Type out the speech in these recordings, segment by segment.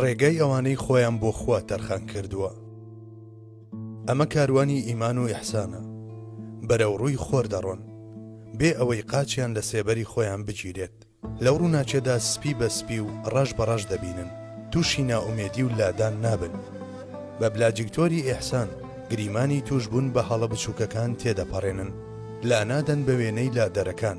ڕێگای ئەوانەی خۆیان بۆ خوا تەرخان کردووە ئەمە کاروانی ئیمان و ئیحسانە بەرەو ڕووی خۆر دەڕۆن بێ ئەوەی قاچیان لە سێبەری خۆیان بگیرێت لەو ڕووناچێدا سپی بە سپی و ڕەش بە ڕەش دەبینن تووشی ناومێدی و لادان نابن بە بلاجیکتۆری ئیحسان گریمانی توشببوون بە هەڵە بچووکەکان تێدەپەڕێنن لا نادەن بە وێنەی لادەرەکان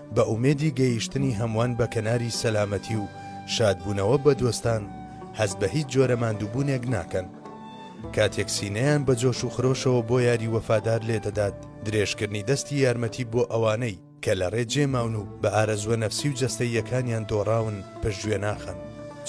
بە ئومێدی گەیشتنی هەموان بە کەناری سەلامەتی و شادبونەوە بە دۆستان هەست بە هیچ جۆرە ماندوبونێک ناکەن کاتێک سینەیان بە جۆش و خرۆشەوە بۆ یاری وەفادار لێدەدات درێژکردنی دەستی یارمەتی بۆ ئەوانەی کە لە ڕێ جێ ماون و بە ئارەزوە نەفسی و جەستەییەکانیان دۆڕاون پشت گوێ ناخەن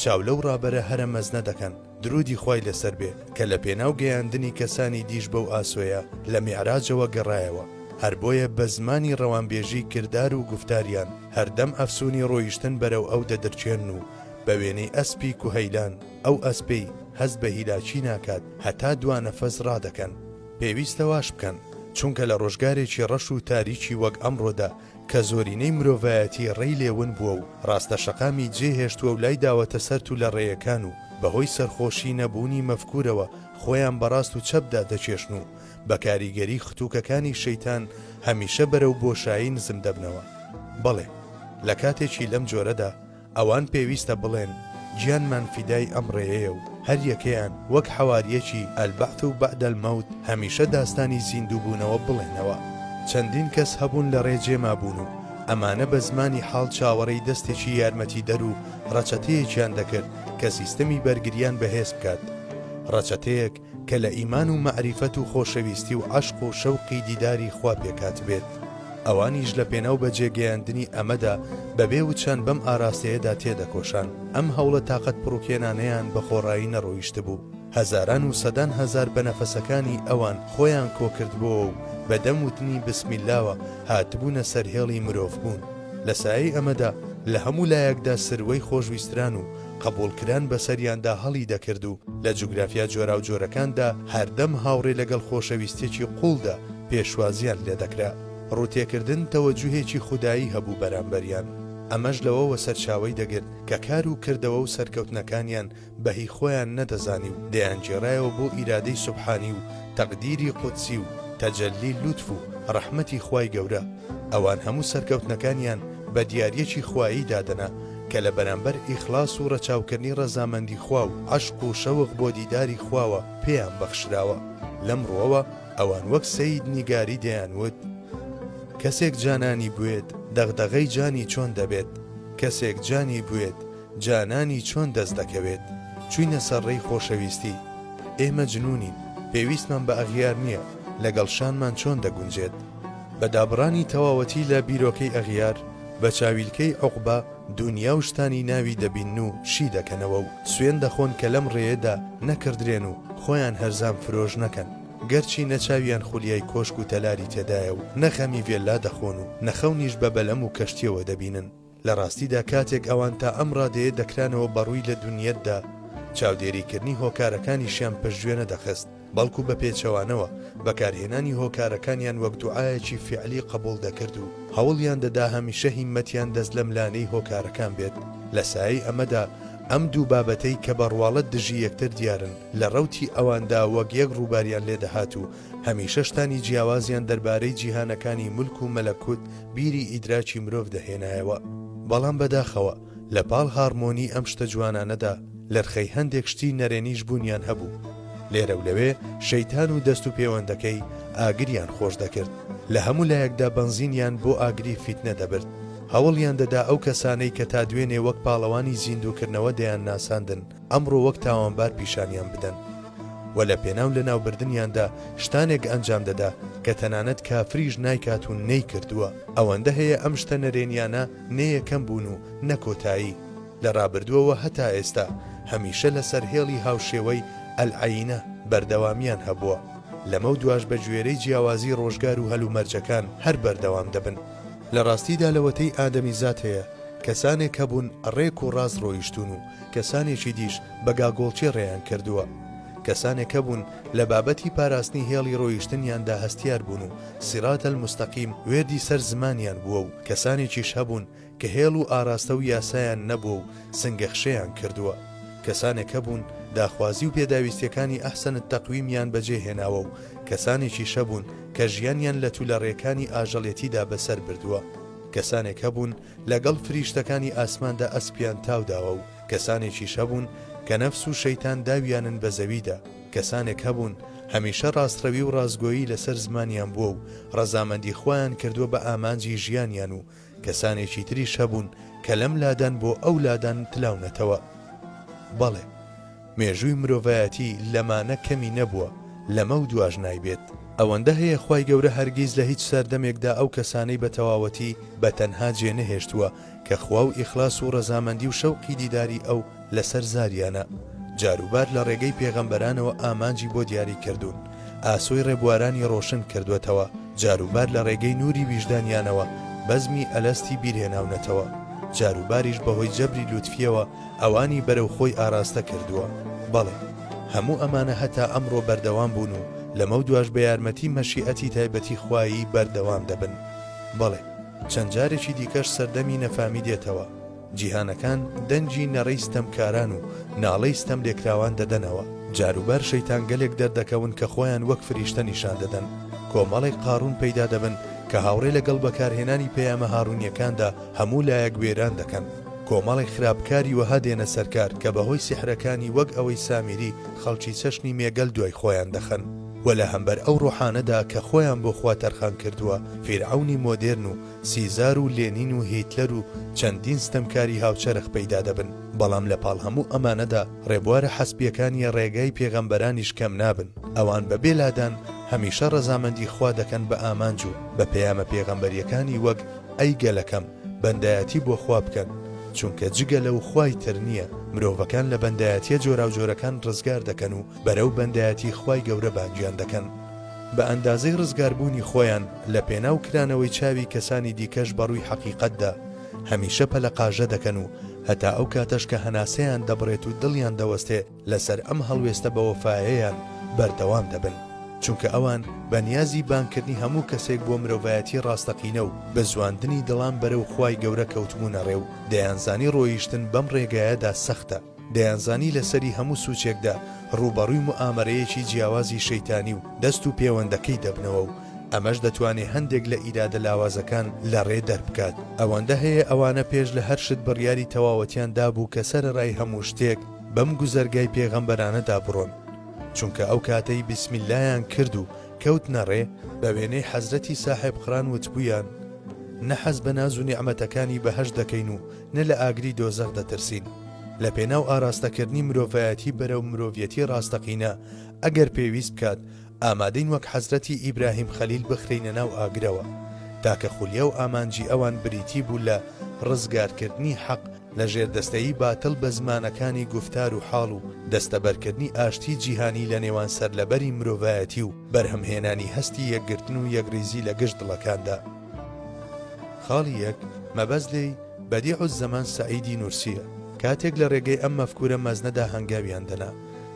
چاو لەو ڕابەرە هەرە مەزنە دەکەن. دروودی خوای لەسەر بێ کە لە پێناو گەیاندنی کەسانی دیش بەو ئاسۆیە لە میعراجەوە گەڕایەوە هەر بۆیە بە زمانی ڕەوانبێژی کردار و گوفتاریان هەردەم ئەفسوونی ڕۆیشتن بەرەو ئەو دەدرچێنن و بە وێنەی ئەسپی کوهەیلان ئەو ئەسپەی هەست بە هیلاکی ناکات هەتا دوا نەفەس ڕادەکەن. پێویستە واش بکەن چونکە لە ڕۆژگارێکی ڕەش و تاریکی وەک ئەمڕۆدا کە زۆرینەی مرۆڤایەتی ڕێی لێ ون بووە و ڕاستە شەقامی جێ هێشتووە و لای داوەتە سەر تولە ڕێیەکان و بە هۆی سەرخۆشی نەبوونی مەفکوورەوە خۆیان بە ڕاست و چەپدا دەکێشن و بە کاریگەری ختووکەکانی شەیتان هەمیشە بەرەو بۆشایی نزم دەبنەوە. بەڵێ لە کاتێکی لەم جۆرەدا، ئەوان پێویستە بڵێن گیانمان فیدای ئەم ڕێیەیە و هەر یەکەیان وەک حەوارییەکی البعث بعد الموت هەمیشە داستانی زیندووبوونەوە بڵێنەوە. چەندین کەس هەبوون لە ڕێ جێ مابوون و ئەمانە بە زمانی حاڵ چاوەڕێی دەستێکی یارمەتیدەر و ڕەچەتەیەکیان دەکرد کە سیستەمی بەرگرییان بەهێز بکات. ڕەچەتەیەک کە لە ئیمان و مەعریفەت و خۆشەویستی و عەشق و شەوقی دیداری خوا پێکهاتبێت، ئەوانیش لە پێناو بەجێگەیاندنی ئەمەدا بە بێ وچان بەم ئاراستەیەدا تێدەکۆشان، ئەم هەوڵە تاقەتپڕوکێنانەیان بە خۆڕایی نەڕۆیشتبوو، هەزاران و سەدان هەزار بە نەفەسەکانی ئەوان خۆیان کۆکردبۆوە و بە دەم وتنی بسم اللەوە هاتبوونە سەر هێڵی مرۆڤبوون، لە سایەی ئەمەدا لە هەموو لایەکدا سروەی خۆشویستران و قبوڵکران بەسەریاندا هەڵی دەکرد و لە جوگرافیا جۆراوجۆرەکاندا هەردەم هاوڕێ لەگەڵ خۆشەویستیەکی قوڵدا پێشوازیان لێدەکرا. ڕوتێکردن تەوەجوهێکی خودایی هەبوو بەرامبەریان. ئەمەش لەوەوە سەرچاوەی دەگرت کە کار و کردەوە و سەرکەوتنەکانیان بە هی خۆیان نەدەزانی و دەیانگێڕایەوە بۆ ئیرادەی سوبحانی و تەقدیری قودسی و تەجەلی لوتف و ڕەحمەتی خوای گەورە. ئەوان هەموو سەرکەوتنەکانیان بە دیاریەکی خوایی دادەنا، کە لە بەرامبەر ئیخلاس و ڕەچاوکردنی ڕەزامەندی خوا و عەشق و شەوق بۆ دیداری خواوە پێیان بەخشراوە، لەم ڕوەوە ئەوان وەک سەید نیگاری دەیان وت، کەسێک جانانی بوێت دەغدەغەی جانی چۆن دەبێت، کەسێک جانی بوێت جانانی چۆن دەست دەکەوێت، چوینە سەر ڕێی خۆشەویستی، ئێ مەجنونین، پێویستمان بە ئەغیار نیە، لەگەڵ شانمان چۆن دەگونجێت؟ بە دابڕانی تەواوەتی لە بیرۆکەی ئەغیار، بە چاویلکەی عوقبە دونیا و شتانی ناوی دەبینن و شی دەکەنەوە و سوێن دەخۆن کە لەم ڕێیەدا نەکڕدرێن و خۆیان هەرزان فرۆش نەکەن، گەرچی نە چاویان خولیای کۆشک و تەلاری تێدایە و نە غەمی ڤێللا دەخۆن و نە خەونیش بە بەلەم و کەشتیەوە دەبینن. لە ڕاستیدا کاتێک ئەوان تا ئەم ڕادەیە دەکرانەوە بە ڕووی لە دونیەتدا چاودێریکردنی هۆکارەکانیشیان پشتگوێ نەدەخست، بەڵکو بە پێچەوانەوە بەکارهێنانی هۆکارەکانیان وەک دوعایەکی فیعلی قەبوڵ دەکرد و هەوڵیان دەدا هەمیشە هیمەتیان دەست لەملانێی هۆکارەکان بێت، لە سایەی ئەمەدا ئەم دوو بابەتەی کە بە ڕواڵەت دژی یەکتر دیارن لە ڕەوتی ئەواندا وەک یەک ڕووباریان لێ دەهات و هەمیشە شتانی جیاوازیان دەربارەی جیهانەکانی مولک و مەلەکوت بیری ئیدراکی مرۆڤ دەهێنایەوە. بەڵام بەداخەوە. لە پاڵ هارمۆنی ئەم شتە جوانانەدا، لەرخەی هەندێک شتی نەرێنیش بوونیان هەبوو. لێرە و لەوێ شەیتان و دەست و پێوەندەکەی ئاگریان خۆش دەکرد. لە هەموو لایەکدا بەنزینیان بۆ ئاگری فیتنە دەبرد. هەوڵیان دەدا ئەو کەسانەی کە تا دوێنێ وەک پاڵەوانی زیندووکردنەوە دەیانناساندن، ئەمڕۆ وەک تاوانبار پیشانیان بدەن. وە لە پێناو لەناوبردنیاندا شتانێک ئەنجام دەدا کە تەنانەت کافریش نایکات و نەیکردووە. ئەوەندە هەیە ئەم شتە نەرێنیانە نە یەکەم بوون و نە کۆتایی، لە رابردووەوە هەتا ئێستا هەمیشە لەسەر هێڵی هاوشێوەی، العینە، بەردەوامییان هەبووە، لەمەو دواش بەگوێرەی جیاوازی رۆژگار و هەلومەرجەکان هەر بەردەوام دەبن. لە راستیدا لەوەتەی ئادەمیزاد هەیە کەسانێک هەبوون رێک و راست رۆیشتوون و کەسانێکی دیش بە گاگۆڵکێ رێیان کردووە. کەسانێک هەبوون لە بابەتی پاراستنی هێڵی رۆیشتنیاندا هەستیار بوون و صراط المستقیم وێردی سەر زمانیان بووە و کەسانێکیش هەبوون کە هێڵ و ئاراستە و یاسایان نەبووە و سنگەخشێیان کردووە. کەسانێک هەبوون داخوازی و پێداویستیەکانی ئەحسەن التقویمیان بەجێ هێناوە و کەسانێکیش هەبوون کە ژیانیان لە تولەڕێکانی ئاژەڵێتیدا بەسەر بردووە. کەسانێک هەبوون لە گەڵ فریشتەکانی ئاسماندا ئەسپیان تاو داوە و کەسانێکیش هەبوون کە نەفس و شەیتان داویانن بە زەویدا. کەسانێک هەبوون هەمیشە ڕاستڕەوی و ڕاستگۆیی لەسەر زمانیان بووە و ڕەزامەندی خۆیان کردووە بە ئامانجی ژیانیان و کەسانێکی تریش هەبوون کە لەم لادان بۆ ئەو لادان تلاونەتەوە. بەڵێ. مێژووی مرۆڤایەتی لەمانە کەمی نەبووە، لەمە و دواش نایبێت. ئەوەندە هەیە خوای گەورە هەرگیز لە هیچ سەردەمێکدا ئەو کەسانەی بە تەواوەتی بە تەنها جێنەهێشتووە کە خوا و ئیخلاس و ڕەزامەندی و شەوقی دیداری ئەو لەسەر زاریانە جاروبار لە ڕێگەی پێغەمبەرانەوە ئامانجی بۆ دیاری کردوون ئاسۆی ڕێبوارانی ڕۆشن کردوەتەوە جاروبار لە ڕێگەی نوری ویژدانیانەوە بەزمی ئەلەستی بیرهێناونەتەوە جاروباریش بەهۆی جەبری لوتفیەوە ئەوانی بەرەو خۆی ئاراستە کردووە بەڵێ هەموو ئەمانە هەتا ئەمڕۆ بەردەوام بوون و لەمە دواش بە یارمەتی مەشیئەتی تایبەتی خوایی بەردەوام دەبن بەڵێ چەند جارێکی دیکەش سەردەمی نەفامی دێتەوە، جیهانەکان دەنگی نەرێی ستەمکاران و ناڵەی ستەملێکراوان دەدەنەوە، جاروبار شەیتانگەلێک دەردەکەون کە خۆیان وەک فریشتە نیشان دەدەن، کۆمەڵێک قاڕوون پەیدا دەبن کە هاوڕێ لەگەڵ بەکارهێنانی پەیامە هاڕوونییەکاندا هەموو لایەک وێران دەکەن، کۆمەڵێک خراپکاری وەها دێنە سەرکار کە بەهۆی سیحرەکانی وەک ئەوەی سامیری خەڵکی چەشنی مێگەل دوای خۆیان دەخەن. وە لە هەمبەر ئەو ڕۆحانەدا کە خۆیان بۆ خوا تەرخان کردووە، فیرعەونی مۆدێرن و سیزار و لێنین و هیتلەر و چەندین ستەمکاری هاوچەرخ پەیدا دەبن، بەڵام لە پاڵ هەموو ئەمانەدا ڕێبوارە حەسبیەکانیە ڕێگای پێغەمبەرانیش کەم نابن، ئەوان بە بێ لادان هەمیشە ڕەزامەندی خوا دەکەن بە ئامانج و بە پەیامە پێغەمبەریەکانی وەک، ئەی گەلەکەم بەندایەتی بۆ خوا بکەن، چونکە جگە لەو خوای تر نیە، مرۆڤەکان لە بەندایەتیە جۆراوجۆرەکان ڕزگار دەکەن و، بەرەو بەندایەتی خوای گەورە بانگیان دەکەن بە ئەندازەی ڕزگاربوونی خۆیان لە پێناو کرانەوەی چاوی کەسانی دیکەش بەڕووی حەقیقەتدا هەمیشە پەلەقاژە دەکەن و هەتا ئەو کاتەش کە هەناسەیان دەبڕێت و دڵیان دەوەستێ لەسەر ئەم هەڵوێستە بەوەفاەیان بەردەوام دەبن چونکە ئەوان بە نیازی بانکردنی هەموو کەسێک بۆ مرۆڤایەتی ڕاستەقینە و بزواندنی دڵان بەرە و خی گەورە کەوتبوونە ڕێ و دەیانزانی ڕۆیشتن بەم ڕێگایەدا سەختە دەیانزانی لە سەری هەموو سووچێکدا ڕووبەڕووی موئامەرەیەکی جیاوازی شەیتانی و دەست و پێوەندەکەی دەبنەوە و ئەمەش دەتوانێ هەندێک لە ئیرادە لاوازەکان لە ڕێ دەربکات. ئەوەندە هەیە ئەوانە پێش لە هەر شت بڕیاری تەواوەتیان دابوو کە سەرەڕای هەموو شتێک بەم گوزەرگای پێغەمبەرانەدا بڕۆن. چونکە ئەو کاتەی بسم اللەیان کرد و کەوتنە ڕێ، بە وێنەی حەزرەتی ساحێب قران وتبوویان، نە حەز بە ناز و نیعمەتەکانی بەهەشت دەکەین و نە لە ئاگری دۆزەخ دەترسین. لە پێناو ئاراستەکردنی مرۆڤایەتی بەرەو مرۆڤیەتی ڕاستەقینە، ئەگەر پێویست بکات، ئامادەین وەک حەزرەتی ئیبراهیم خەلیل بخرێینە ناو ئاگرەوە. تاکە خولیا و ئامانجی ئەوان بریتی بوو لە ڕزگارکردنی حەق لە ژێردەستەیی باتڵ بە زمانەکانی گوفتار و حاڵ و دەستەبەرکردنی ئاشتی جیهانی لە نێوان سەرلەبەری مرۆڤایەتی و بەرهەمهێنانی هەستی یەکگرتن و یەکڕیزی لە گشت دڵەکاندا. خاڵی یەک، مەبەست لێی، بەدیع الزەمان سەعیدی نورسییە. کاتێک لە رێگەی ئەم مەفکورە مەزنەدا هەنگاویان دەنا،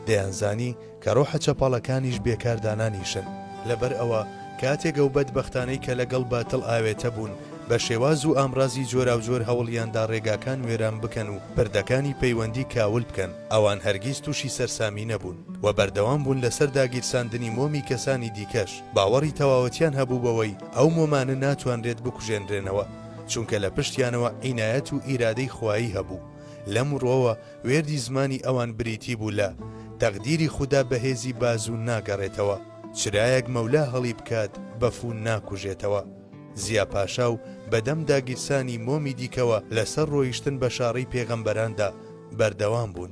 دەیانزانی کە رۆحە چەپەڵەکانیش بێ کاردانانیشن. لەبەر ئەوە کاتێک ئەو بەدبەختانەی کە لە گەڵ باتڵ ئاوێتە بوون، بە شێواز و ئامڕازی جۆراوجۆر هەوڵیان دا رێگاکان وێران بکەن و پردەکانی پەیوەندی کاول بکەن، ئەوان هەرگیز تووشی سەرسامی نەبوون و بەردەوام بوون لە سەر داگیرساندنی مۆمی کەسانی دیکەش. باوەڕی تەواوەتیان هەبوو بەوەی ئەو مۆمانە ناتوانرێت بکوژێنرێنەوە، چونکە لە پشتیانەوە عینایەت و ئیرادەی خوایی هەبوو، لەم ڕووەوە وێردی زمانی ئەوان بریتی بوو لە، تەقدیری خودا بەهێزی بازوو ناگەڕێتەوە، چرایەک مەولا هەڵیبکات بەفوو ناکوژێتەوە. زیا پاشا و بەدەم داگیرسانی مۆمی دیکەوە لەسەر ڕۆیشتن بە شاڕی پێغەمبەراندا بەردەوام بوون.